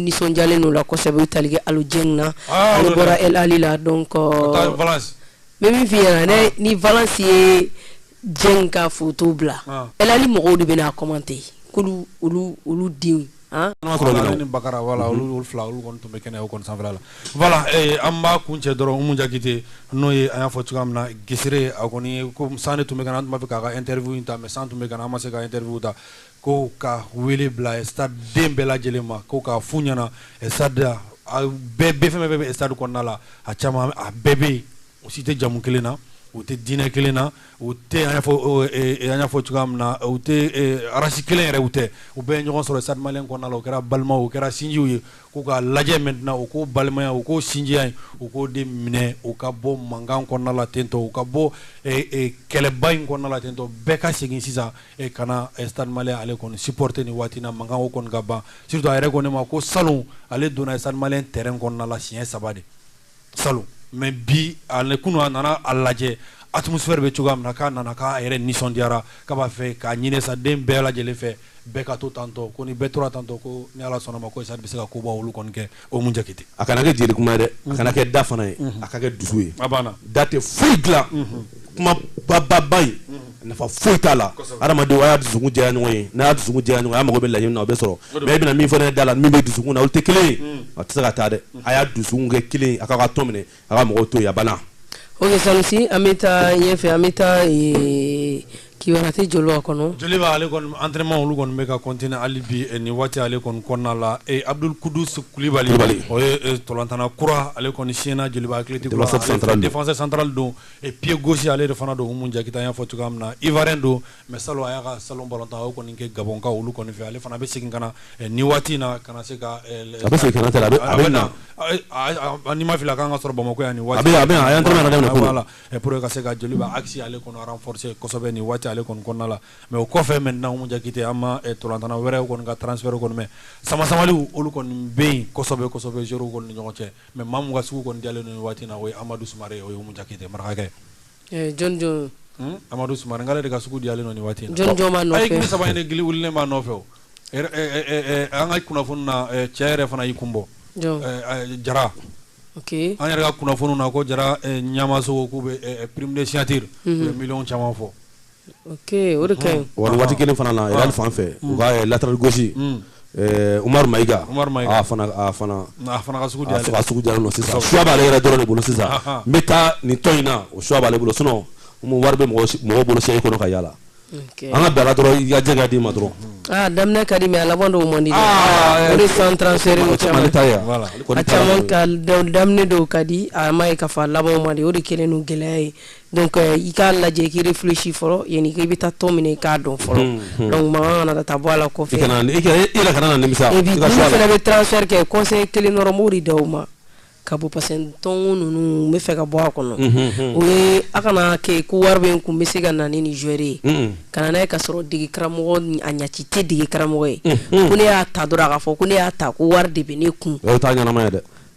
nisɔndiyalen don la kosɛbɛ tali kɛ alijɛ na ah, ale bɔra ali la dɔn kɔ bɛ min fi yan ne ah. ni vsi ye jɛ ka foto bila ah. ali mɔgɔw de bɛna a kɔman tɛ yen olu denw an b'a kun cɛ dɔrɔn jakite n'o ye an y'a fɔ cogoya min na gesere a kɔni ko san tun bɛ tun bɛ fɛ k'a ka teririffinw ta mɛ san tun bɛ an ma se ka teririffinw ta Ko ka wele bila stade den bɛɛ lajɛlen ma ko k'a f'u ɲɛna stade bɛɛ bɛ fɛn bɛɛ bɛ stade kɔnɔna la a caman a bɛɛ bɛ yen u si tɛ jamu kelen na u tɛ diinɛ kelen na u tɛ an y'a fɔ cogoya min na u tɛ race kelen yɛrɛ u tɛ u bɛɛ ye ɲɔgɔn sɔrɔ stade malien kɔnɔna la u kɛra balimaw u kɛra sinjiw ye k'u k'a lajɛ maintenant u k'o balimaya u k'o sinjiya in u k'o de minɛ u ka bɔ mankan kɔnɔna la tentɔ u ka bɔ kɛlɛba in kɔnɔna la tentɔ bɛɛ ka segin sisan e ka na stade malien ale kɔni supporter nin waati na mankan o kɔni ka ban surtout a yɛrɛ ko ne ma ko salon ale donna stade malien terrain kɔnɔna la siɲɛ saba de salon mais bi ale kunun a nana a lajɛ atmosphère bɛ cogoya min na k'a nana k'a yɛrɛ nisɔndiyara k'a b'a fɛ k'a ɲinin stade den bɛɛ lajɛlen fɛ bɛɛ ka to tantɔ ko ni bɛɛ tora tantɔ ko ni ala sɔnna a ma ko stade bɛ se ka koba olu kɔni kɛ Umu Jakite a kana kɛ jeli kuma ye dɛ a kana kɛ da fana ye a ka kɛ dusu ye a banna da tɛ foyi dilan kuma bababa ye nafa foyi t'a la adamadenw a y'a dusukun jɛya ɲɔgɔn ye n'a y'a dusukun jɛya ɲɔgɔn ye a mago bɛ laɲini min na o bɛ sɔrɔ mais e bɛna min fɔ n ye da la min bɛ dusukun na olu tɛ kelen ye a tɛ se ka taa dɛ a y'a dusukun kɛ kelen ye a k'a ka tɔn minɛ a ka mɔgɔw to yen a banna ok sanusi an bɛ taa ɲɛfɛ an bɛ taa eh, kibarate Joliba kɔnɔ Joliba ale kɔni entraînement olu kɔni bɛ ka continuer hali bi eh, nin waati ale kɔni kɔnɔna la eh, abdul kudus kulibali o ye eh, tolantana kura ale kɔni siɲɛna Joliba Athletic Club Défenseur central don. défenseur central don eh, pied gauche ale de fana don umu jakite an y'a fɔ cogoya min na ivoirien don mais salon a y'a ka salon balontan o kɔni kɛ Gabɔnkaw olu kɔni fɛ ale fana bɛ segin ka na eh, nin waati in na ka na se ka eh, a bɛ segin ka na tɛ a bɛ a bɛ na ni n ma fili a kan ka sɔrɔ bamakɔ yan nin waati a bɛ a bɛ a ye entraînement daminɛ voilà eh, pour que ka se ka Joliba axe ale kɔni renforcer kosɛbɛ nin waati ale kɔni kɔnɔna la mais o kɔfɛ maintenant Umu Jakite an ma tolantana wɛrɛ kɔni ka transfert kɔni mɛn samasamaliw olu kɔni bɛ yen kosɛbɛ kosɛbɛ joueurs kɔni ni ɲɔgɔn cɛ mais maa min ka sugu kɔni diyalen don nin waati in na o ye Amadu Sumare o ye Umu Jakite marakakɛ eh, jɔn jɔn hmm? amadu sumare k'ale de ka sugu diyalen don nin waati in na jɔn jɔn b'a nɔfɛ ayi club saba in de gili wulilen b'a nɔfɛ o eh, eh, an ka kunnafoni na cɛ yɛrɛ fana y'i kun bɔ jara okay. an yɛrɛ ka kunnafoniw na ko jara ɲamaso k'u bɛ prime de signature u bɛ miliyɔn caman fɔ Waati kelen fana na Real fan fɛ u ka latéral gauche Umaru Mayiga a fana ka sugu diyalen don sisan choix b'ale yɛrɛ dɔrɔn de bolo sisan n bɛ taa nin tɔn in na o choix b'ale bolo sinon wari bɛ mɔgɔ bolo se e kɔnɔ ka yaala an ka bila dɔrɔn i ka jɛ ka d'i ma dɔrɔn daminɛ ka di mais a laban dɔw man di o de san transfert caman a caman ka daminɛ dɔw ka di a ma ye k'a fɔ a laban man di o de kɛlen don gɛlɛya ye donc euh, i k'a lajɛ k'i réfléchir fɔlɔ yani i bɛ taa tɔn min na i k'a dɔn fɔlɔ hmm, hmm. donc mankan kana taa bɔ a la kɔfɛ i kana i yɛrɛ kana na nimisa et puis minnu fana bɛ transfert kɛ conseil kelen dɔrɔn n b'o de d'u ma ka bɔ parce que tɔnko ninnu n b'a fɛ ka bɔ a kɔnɔ hmm, o ye a kana kɛ ko wari bɛ n kun n bɛ se ka na ni nin joueur ye ka na n'a ye ka sɔrɔ dege karamɔgɔ a ɲaci tɛ dege karamɔgɔ ye ko ne y'a ta dɔrɔn a k'a fɔ ko ne y'a ta ko wari de bɛ ne kun o t'a ɲɛnama ye dɛ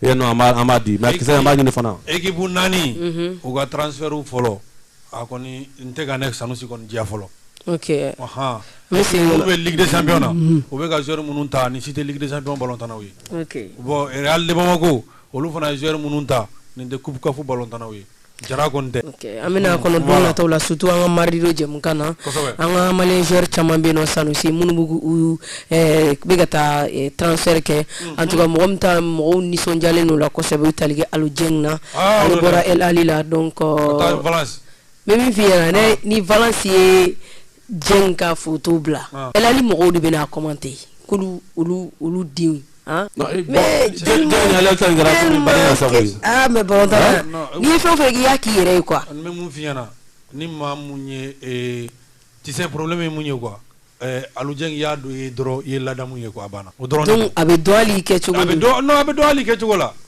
e eh, non an b'a an b'a di mais kisɛ an b'a ɲini fana équipe naani mhm. u ka transfert fɔlɔ a kɔni n tɛ ka ne sanusi kɔni diya fɔlɔ ok ɔhan olu bɛ ligue des champions na mhm. u bɛ ka joueur minnu ta nin si tɛ ligue des champions balontannaw ye ok bon real de bamako olu fana ye joueur minnu ta nin tɛ coupe CAF balontannaw ye Jara an bɛna kɔnɔtɔ la sutu an ka marido jɛkan na an ka mali caman bɛ na sanu se minnu bɛ ka taa tansɛri kɛ an tun mɔgɔ bɛ taa mɔgɔw nisɔndiyalen don la kɔfɛ tali kɛ ali jɛ na bɔra e ali la dɔn kɔ min fɔ i ni vsi ye Dieng ka foto bila El Ahly mɔgɔw de bɛna commenter k'olu olu olu denw ah, eh, mais balontan n'i ye fɛn o fɛn k'i y'a k'i yɛrɛ ye quoi n bɛ mun f'i ɲɛna ni maa mun ye eh, tu sais problème ye mun ye quoi eh, Aliou Dieng y'a don ye dɔrɔn i ye ladamu ye quoi a banna o dɔrɔn donc a bɛ dɔn hali i kɛcogo a bɛ dɔn non a bɛ dɔn hali i kɛcogo la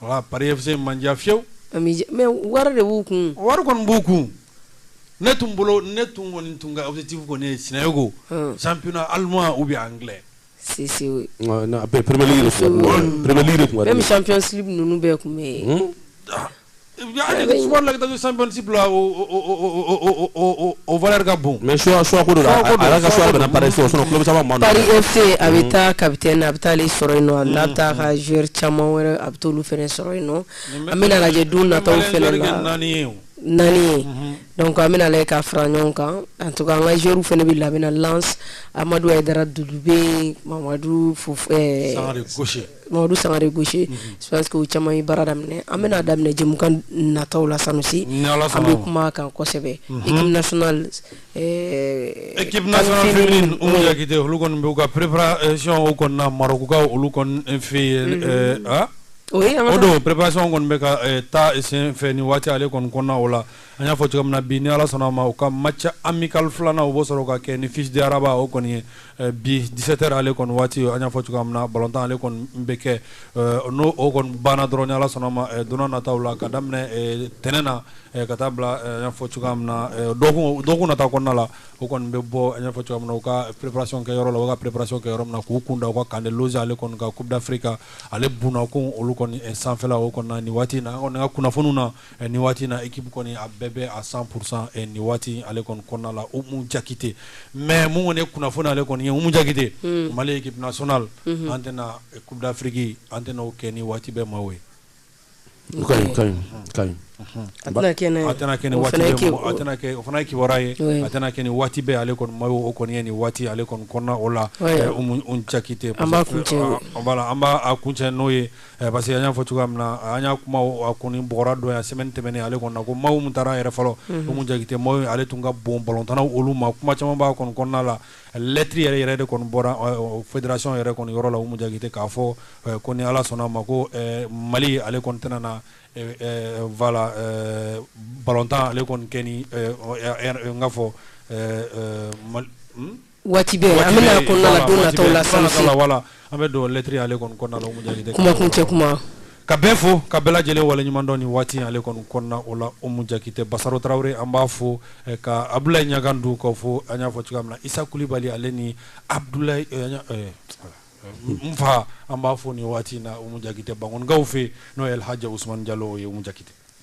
Voilà, Paris FC ma n diya fiyewu. A m'i diya mais wari de b'u kun. Wari kɔni b'u kun. Ne tun bolo ne tun kɔni tun ka objectif kɔni ye Sinayoko. Ɔn. Championnat allemand ou bien anglais. Si si oui. Ɔ non a bɛ Premier League de fɔ. Premier League de tun ka di ne ye. Même Champions League ninnu bɛɛ tun bɛ yen. Hun. la sanpsi si bila o vri ka bon mɛ suko suko se a bɛ taa ka bɛ na a bɛ taa sɔrɔ in nɔn a taa ka z caman wɛrɛ a bɛ taa olu fana sɔrɔ in nɔ an bɛ lajɛ don na naani naani an bɛ ka fara ɲɔgɔn kan an to an ka zuru fana bɛ lamina amadu yɛrɛ da duuru bɛ mamadu Mamadu sangare gosi que caman ye baara daminɛ an bɛna'a daminɛ jamukan nata la sanusi bɛ kuma kan kosɛbɛ olu ka ppɛracɔn kɔnɔna makaw olu fɛ yen o don ppɛracɔn kɔni bɛ ka taa sen fɛ ni waati ale kɔni kɔnɔna o la an y'a fɔ cogo min na bi ni ala sɔnna ma u ka match amical filanan u b'o sɔrɔ ka kɛ ni FUS de Rabat o kɔni ye eh, bi 17 heures ale kɔni waati an y'a fɔ cogo min na balontan ale kɔni bɛ kɛ eh, n'o o kɔni banna dɔrɔn ni ala sɔnna ma eh, don nataw la ka daminɛ tɛnɛn na ka taa bila an y'a fɔ cogoya min na dɔgɔkun dɔgɔkun nata kɔnɔna la o kɔni bɛ bɔ an y'a fɔ cogoya min na u ka préparation kɛ yɔrɔ la u ka préparation kɛ yɔrɔ min na k'u kun da u ka camp de loge ale kɔni ka coupe d'afrique ale bunakun olu kɔni sanfɛla o kɔni na nin waati in na an kɔni ka kunnafoniw na Eh, nin waati in na équipe kɔni a bɛɛ bɛ à cent pour cent eh, nin waati ale kɔni kɔnɔna la umu jakite mais mun kɔni ye kunnafoni ale kɔni ye umu jakite hmm. mali équipe nationale hmm. an tɛna eh, coupe d'afrique an tɛna o kɛ ni waati bɛɛ maillot ye o fana ye kibaruya ye a tɛna kɛ ni waati bɛɛ ale kɔni maillot kɔni ye nin waati ale kɔni kɔnɔna o la umu jakite voilà an b'a kuncɛ n'o ye Parce que an y'a fɔ cogoya min na an y'a kuma a kɔni bɔra don yan semaine tɛmɛnen ale kɔnɔ ko maillot min tara yɛrɛ fɔlɔ umu jakite maillot ale tun ka bon balontannaw olu ma kuma caman b'a kɔni kɔnɔna la lettre yɛrɛ yɛrɛ de kɔni bɔra fédération yɛrɛ kɔni yɔrɔ la umu jakite k'a fɔ ko ni ala sɔnna ma ko mali ale kɔni tɛna na voilà balontan ale kɔni kɛ ni n ka fɔ waati bɛɛ an bɛna kɔnɔna la don nataw la sansi voilà an bɛ don lettre ale kɔni kɔnɔna la umu jakite kuma kuncɛ kuma ka bɛɛ fo ka bɛɛ lajɛlen waleɲuman dɔn nin waati ale kɔni kɔnɔna o la umu jakite basaro tarawele an b'a fo eh, ka abdulayi ɲagandu k'o fo an y'a fɔ cogoya min na isa kulibali ale ni abdulayi eh, eh, n fa an b'a fo nin waati in na umu jakite bankonikaw fɛ n'o ye alhaji usumani jalo ye umu jakite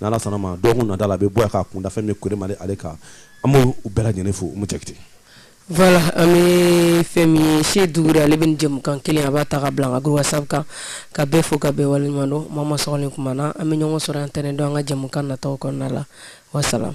Ni Ala sɔnna ma dɔgɔkun nata la a bɛ bɔ yan k'a kunda fɛn min ye Kone Male ale kan an b'u bɛɛ lajɛlen fo Umu Jakite. Voilà an bɛ fɛn min ye se Dugure ale bɛ nin jɛmukan kelen a b'a ta ka bila an ka groupe WhatsApp kan ka bɛɛ fo ka bɛɛ waleɲuman dɔn Mama Sɔgɔlen kuma na an bɛ ɲɔgɔn sɔrɔ yan tɛnɛndon an ka jɛmukan nataw kɔnɔna la wa salam.